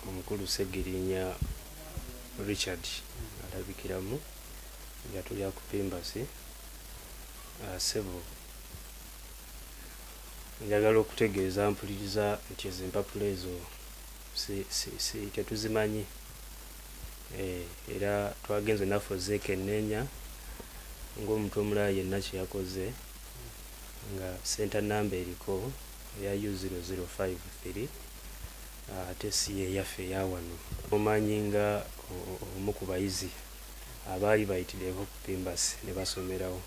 omukulu Ssegirinya Richard alabikiramu nga tuli akupimbasi ah, sebo njagala okutegeeza mpuliriza nti ezo empapula ezo tetuzimanyi eh, era twagenze naffe ozeekenneenya ng'omuntu omulala yenna kye yakoze nga senta namba eriko eya u 0053 Ate si y'eyaffe eya wano. Omanyi nga omu ku bayizi abaali bayitidde e Hope Pimbas ne basomerawo.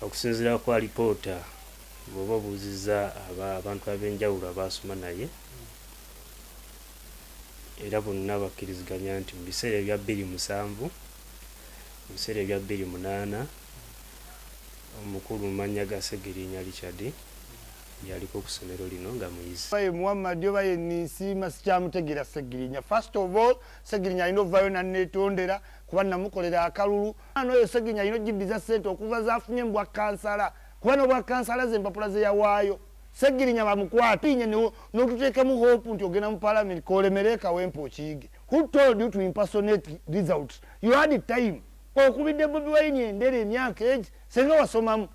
Okusinziira ku alipoota, bw'oba obuuzizza aba, abantu ab'enjawulo abaasoma naye, era bonna bakkiriziganya nti mu biseera ebya bbiri musanvu, mu biseera ebya bbiri munaana, omukulu mu mannya ga Ssegiriinya Richard Yaliko kusomero lino nga muyizi. Oba ye Muhammad oba ye Ninsiima sikyamutegeera Ssegirinya. First of all Ssegirinya alina ovaayo nanetondera kuba namukolera akalulu. Omwana oyo Ssegirinya alina ojiddiza ssente okuva zafunye mubwa kansala kuba nobwa kansala ze empapula zeyawaayo. Ssegirinya bamukwate olinye notuteekamu hope nti ogenda mu parliament kolemere ekawempe okiyige. Who told you to impersonate results? You had time. Okubidde Bobi Wine endere emyaka egi senga wasomamu.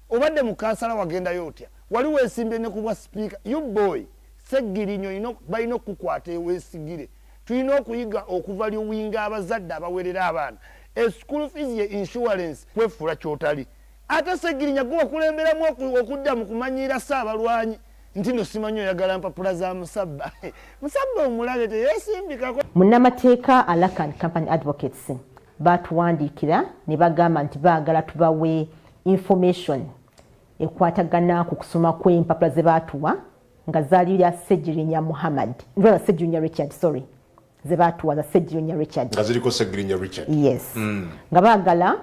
Obadde mu kansala wagendayo otya? Wali wesimbye ne kubwa sipiika? You boy Sseggirinyo balina okukukwata ewesigire. Tulina okuyiga okuva liwinga abazadde abawerera abaana e school fees ye insurance. Kwefuula kyotali. Ate Ssegirinya gwe wakulemberamu okudda mu kumanyiira Ssaabalwanyi nti no simanyi oyagala mpapula za musabba. Musabba omulabe teyesimbikako. Munnamateeka Alakan Company Advocates baatuwandiikira ne bagamba nti baagala tubawe information ekwatagana ku kusoma kw'empapula ze baatuwa nga zaali lya segirinya muhammad ndoza segirinya richard sorry ze baatuwa za segirinya richard nga ziriko segirinya richard yes mm. nga baagala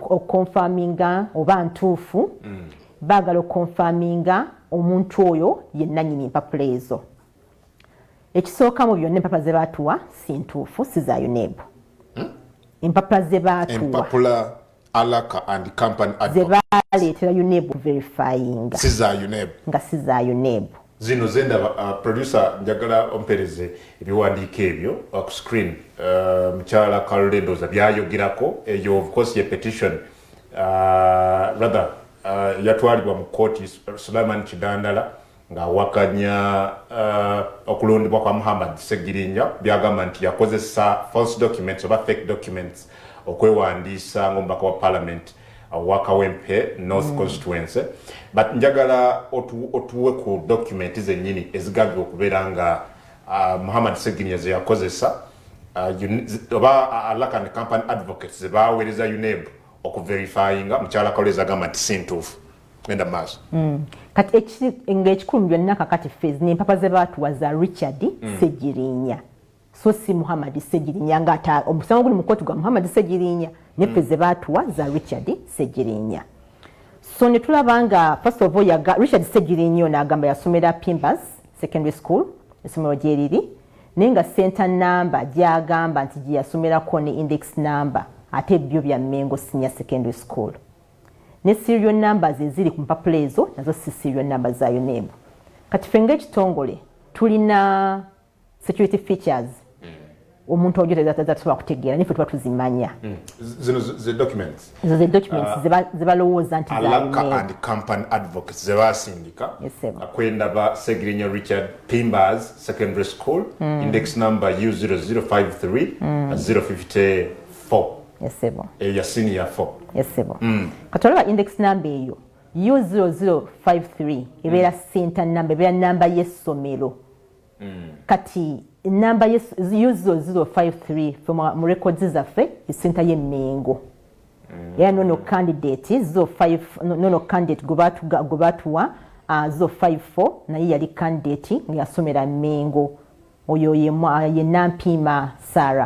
okukonfaminga oba ntuufu mm. baagala okukonfaminga omuntu oyo yennanyini empapula ezo ekisooka mu byonna empapula ze baatuwa si ntuufu si za UNEB hmm? empapula ze baatuwa alaka and company ze baaleetera UNEB verifyinga si za UNEB nga si za UNEB zino zendaba uh, producer njagala ompereze ebiwandiiko ebyo uh, ku screen uh, mukyala uh, carol endoza byayogerako eyo of course ye petition uh, rather uh, yatwalibwa mu kooti sulaman kidandala ng'awakanya uh, okulondebwa kwa Muhammad Ssegirinya byagamba nti yakozesa false documents oba fake documents okwewandiisa ng'omubaka wa parliament wa Kawempe North mm. constituency but njagala otuwe ku document zennyini ezigambibwa okubeera nga uh, Muhammad Ssegirinya ze yakozesa uh, oba alaka ne company advocates ze baaweereza UNEB okuverifyinga mukyala Kalwezi agamba nti si ntuufu genda maaso mm. kati ngaekikulu mu byonna kakati fez nempapa zebaatuwa za richard mm. segirinya so si muhammad segirinya ngaate omusango guli mukooti gwa muhammad segirinya ne fez mm. zebaatuwa za richard segirinya so netulaba nga first of all yaga richard segirinya ono agamba yasomera pimbas secondary school esomero gyeriri naye nga center number gyagamba nti gyeyasomerako ne index number ate byo bya mengo senior secondary school ne serial numbers eziri ku mpapula ezo nazo si serial numbers za UNEB. Kati ffe ng'ekitongole tulina security features hmm. omuntu ojo tezatusobola kutegeera naye fe tuba tuzimanya hmm. zino ze documents ezo ze documents ah. zebalowooza nti alaka and company advocates zebasindika akwendaba segirinya richard pimbers secondary school hmm. index number u 0053 054 esebo eyo ya senior 4 esebo mm. kati olaba index number eyo u0053 ebeera mm. center number ebeera namba y'essomero mm. kati namba u0053 mu records zaffe center ye mengo mm. era nono candidate 05 nono candidate gwe batuwa 054 uh, naye yali candidate nga yasomera mengo oyo ye nampiima sara